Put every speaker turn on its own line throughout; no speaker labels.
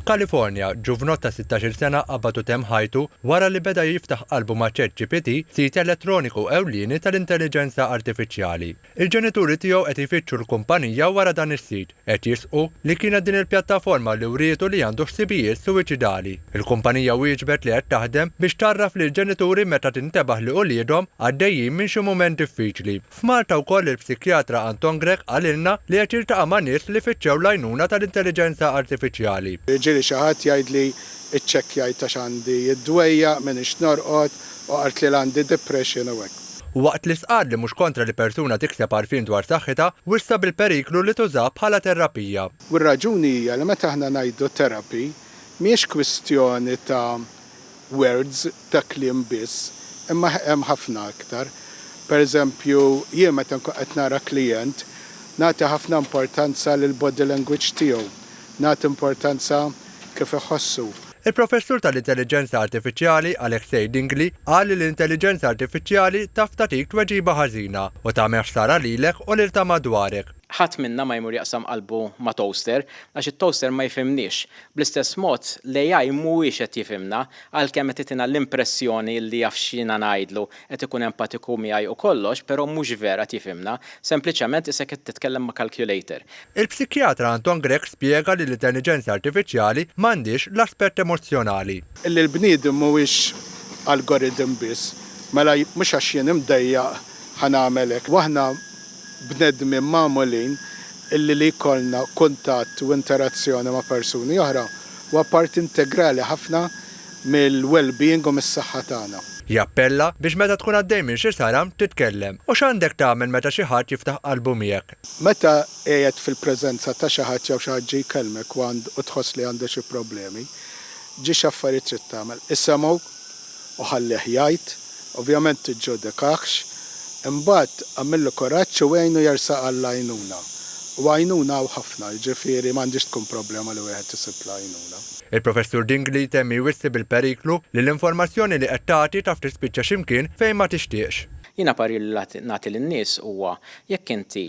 F'Kalifornja, ġuvnott ta' sittax-il sena qabad u temm ħajtu wara li beda jiftaħ qalbu ma' ChatGPT, sit elettroniku ewlieni tal-intelliġenza artifiċjali. Il-ġenituri tiegħu qed jfittxu l-kumpanija wara dan is-sit, qed jisqu li kienet din il-pjattaforma li wrietu li għandu ħsibijiet suwiċidali. Il-kumpanija wieġbet li qed taħdem biex tgħarraf lill-ġenituri meta tintebaħ li uliedhom għaddejjin minn xi mument diffiċli. F'Malta wkoll il-psikjatra Anton Grech qalilna li qed jiltaqa' ma' nies li fittxew l-għajnuna tal-intelliġenza artifiċjali. Ġieli xi ħadd
jgħidli ċċekkjajt għax għandi d-dwejjaq, m'iniex norqod, u qalt li l-għandi depression u hekk. Waqt li stqarr li
mhux kontra li persuna tikseb għarfien dwar saħħitha, wissa bil-periklu li tużah bħala terapija. U r-raġuni hija
li meta aħna ngħidu therapy, mhijiex kwistjoni ta' words ta' kliem biss, imma hemm ħafna aktar. Pereżempju, jien meta nkun qed nara klijent, nagħti ħafna importanza lill-body language tiegħu, nagħti importanza kif iħossu. Il-Professur
tal-Intelliġenza Artifiċjali, Alexei Dingli, qal li l-intelliġenza artifiċjali taf tagħtik tweġiba ħażina u tagħmel ħsara lilek u lil ta' madwarek. Ħadd minna ma jmur
jaqsam qalbu ma' toaster, għax it-toaster ma jifhimniex. Bl-istess mod, l-AI mhuwiex qed jifhimna, għalkemm qed itina l-impressjoni li jaf x'jiena ngħidlu, qed ikun empatiku miegħi u kollox, però mhux vera qed jifhimna, sempliċement isek qed titkellem ma' calculator. Il-psikjatra
Anton Grech spjega li l-intelliġenza artifiċjali m'għandhiex l-aspett emozzjonali. Illi l-bniedem
mhuwiex algorithm biss, mela mhux għax jien imdejjaq ħa nagħmel hekk. U aħna bnedmin magħmulin illi li jkollna kuntatt u interazzjoni ma' persuni oħra huwa parti integrali ħafna mill-wellbeing u mis-saħħa tagħna. Jappella biex
meta tkun għaddej minn xi sara, titkellem. U x'għandek tagħmel meta xi ħadd jiftaħ qalbu miegħek? Meta qiegħed
fil-preżenza ta' xi ħadd jew xi ħadd ġie jkellmek u tħoss li għandu xi problemi, ġiex affarijiet trid tagħmel? Isemgħu. u ħallih jgħid, ovvjament tiġġudikahx, imbagħad agħmillu kuraġġ u għinu jersaq għall-għajnuna. U għajnuna hawn ħafna, jiġifieri m'għandhiex tkun problema li wieħed isib l-għajnuna. Il-Professur Dingli
temm jwissi bil-periklu li l-informazzjoni li qed tagħti taf tispiċċa xi mkien fejn ma tixtieqx. Jiena parir li
nagħti lin-nies huwa Jekk inti,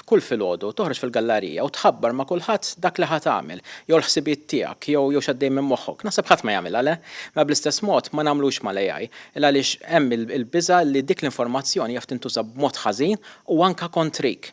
f'kull filgħodu, toħroġ fil-gallarija u tħabbar ma' kulħadd dak li ħa tagħmel, jew l-ħsibijiet tiegħek, jew jew x'għaddej minn moħħok, naħseb ħadd ma jagħmilha, le? Mela bl-istess mod ma nagħmluhx mal-AI, il-għaliex hemm il-biża' li dik l-informazzjoni jaf tintuża b'mod ħażin u anke kontrik.